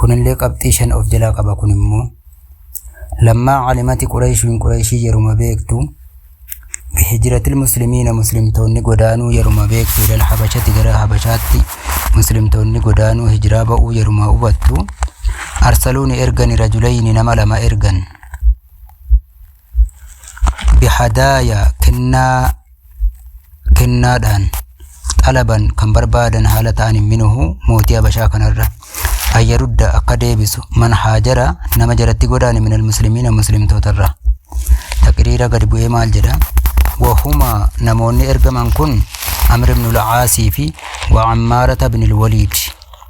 kunillee qabxii shan of jalaa qaba kun immoo lammaa calimati qureeshiin qureeshii yeruma beektu hijiratil muslimiina muslimtoonni godaanuu yeruma beektu ilal habashati gara habashaatti muslimtoonni godaanuu hijiraa ba'uu yeruma hubattu arsaluuni ergani rajulayni nama lama ergan بهدايا kennaa kennaadhaan xalaban kan barbaadan haala ta'an minhu mootii habashaa kanarra ayyarudda akka deebisu man haajara nama jaratti godaane min almuslimiina muslimtootarra taqriira gad bu'ee maal jedha wahuma namoonni ergaman kun amr ibn al-aasii fi wa ammaarata ibn al-waliid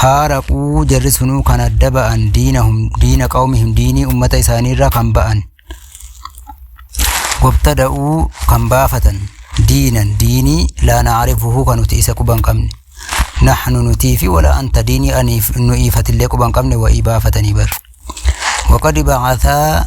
faaraquu jarri sunuu kan adda ba'an diina hum diina qawmihim diinii ummata isaaniirraa kan ba'an wabtada'uu kan baafatan diinan diinii laa naarifuhu kan nuti isa quban qabne nahnu nutii fi wala anta diinii aniif nu iifatillee quban qabne wa'ii baafatanii bar waqad ba'athaa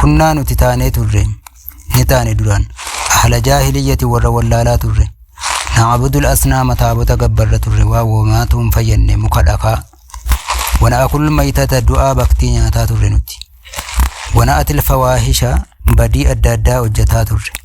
Kunnaa nuti taanee turre. Ni taane duraan. Ahla jaahiliyyati warra wallaalaa turre. Na'abudul asnaama taabota gabbarra turre waa woomaatu hin fayyadne muka dhakaa. Wana akul maytata du'aa baktii nyaataa turre nuti. Wana atil fawaahisha badii adda addaa hojjetaa turre.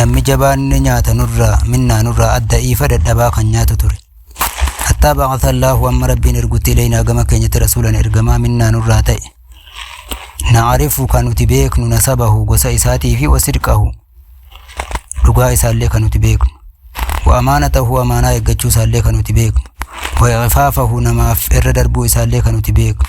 namni jabaan ni nyaata nurraa minnaa nurraa adda iifa dadhabaa kan nyaatu ture hattaa baqata allaahu amma rabbiin ergutti ilaynaa gama keenyatti rasuulan ergamaa minnaa nurraa ta'e naarifu kan nuti beeknu nasabahu gosa isaatii fi wasidqahu dhugaa isaallee kan nuti beeknu wa amaanatahu amaanaa eeggachuu isaallee kan nuti beeknu wa iqfaafahu namaaf irra darbuu isaallee kan nuti beeknu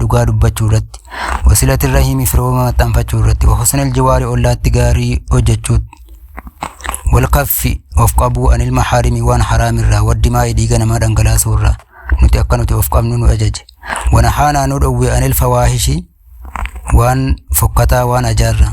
dhugaa dubbachuu irratti wasilati irra himi firooma maxxanfachuu irratti husnal jiwaari ollaatti gaarii hojjechuu walkaffi of qabuu anil mahaarimi waan haraam irraa waddimaa dhiiga namaa dhangalaasuu irraa nuti akka nuti of qabnu nu ajaje wana haanaa nu dhowwe anil fawaahishi waan fokkataa waan ajaarraa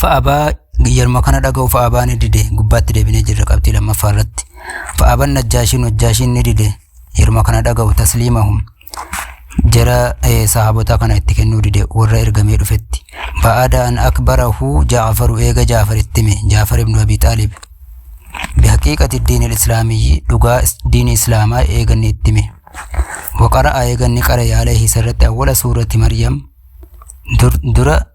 fa'abaa yeruma kana dhaga'u fa'abaa ni dide gubbaatti deebinee jirra qabxii lammaffaa irratti fa'aban najjaashiin hojjaashiin ni dide yeruma kana dhaga'u tasliimahum jara eh, sahaabota kana itti kennuu dide warra ergamee dhufetti ba'aada an akbarahu jaafaru eega jaafar itti hime jaafar ibnu abi xaalib bihaqiiqati diin islaamiyyi dhugaa is- diini islaamaa eeganni itti hime waqara'a eeganni qara yaaleehi isarratti awwala suurati maryam dur- dura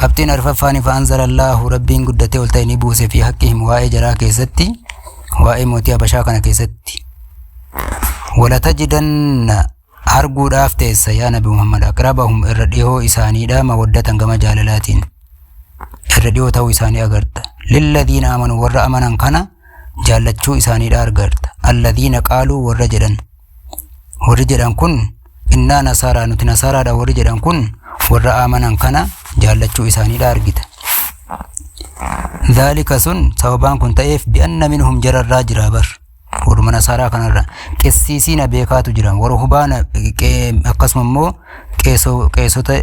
Qabxiin arfaffaan ifaa anzalallahu rabbiin guddatee ol ta'e ni buuse fi haqqi himu waa'ee jaraa keessatti waa'ee mootii habashaa kana keessatti walatajidanna arguudhaaf teessa yaa nabi muhammad aqrabahum irra dhihoo isaaniidha mawaddatan gama jaalalaatiin irra dhihoo ta'uu isaanii agarta lilladiina amanu warra amanan kana jaallachuu isaaniidha argarta alladiina qaaluu warra jedhan warri jedhan kun innaa nasaaraa nuti nasaaraadha warri jedhan kun warra amanan kana jaallachuu isaaniidha argita. Daalika sun sababaan kun ta'eef bi'anna minhum jararraa jira bar. Warruma nasaaraa kanarra qessiisiina beekaatu jira warra hubaana akkasuma immoo qeesota